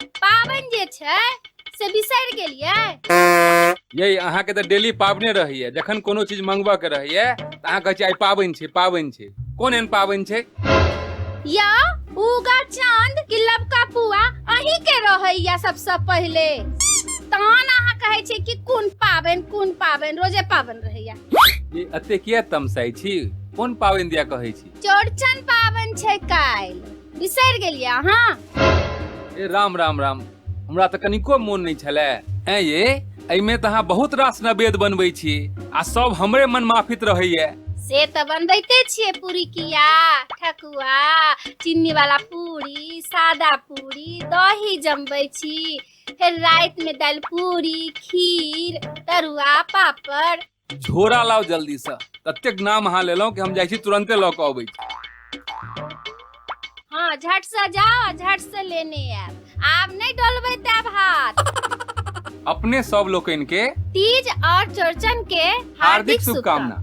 पाबनि जे छै से बिसरि गेलियै यही अहाँके तऽ डेली पाबने रहैया जखन कोनो चीज मंगबऽ के रहैया तऽ अहाँ कहै छियै आइ पाबनि छै पाबनि छै कोन एहन पाबनि छै या उगा चांद कि लबका पुआ अहीं के रहैया सबसँ पहिले तहन अहाँ कहै छियै कि कोन पाबनि कोन पाबनि रोजे पाबनि रहैया ई एते किया तमसाइ छी कोन पाबनि दिया कहै छी चौड़चन पाबनि छै काल्हि बिसरि गेलियै अहाँ ए राम राम राम हमरा तऽ कनिको मोन नहि छलै ऐं ये एहिमे तऽ अहाँ बहुत रास नवेद बनबै छी आ सब हमरे मन माफित रहैया से तऽ बनबैते छियै पूरी किया ठकुआ चीनी वाला पूरी सादा पूरी दही जमबै छी फेर रातिमे दालि पूरी खीर तरुआ पापड़ झोरा लाओ जल्दी से ततेक नाम अहाँ लेलहुँ कि हम जाइ छी तुरंते लऽ कऽ अबै छी। हाँ झट से जाओ झट से लेने आयब आब नहीं डोलबे तब हाथ अपने सब लोकनि के तीज और चौरचन के हार्दिक शुभकामना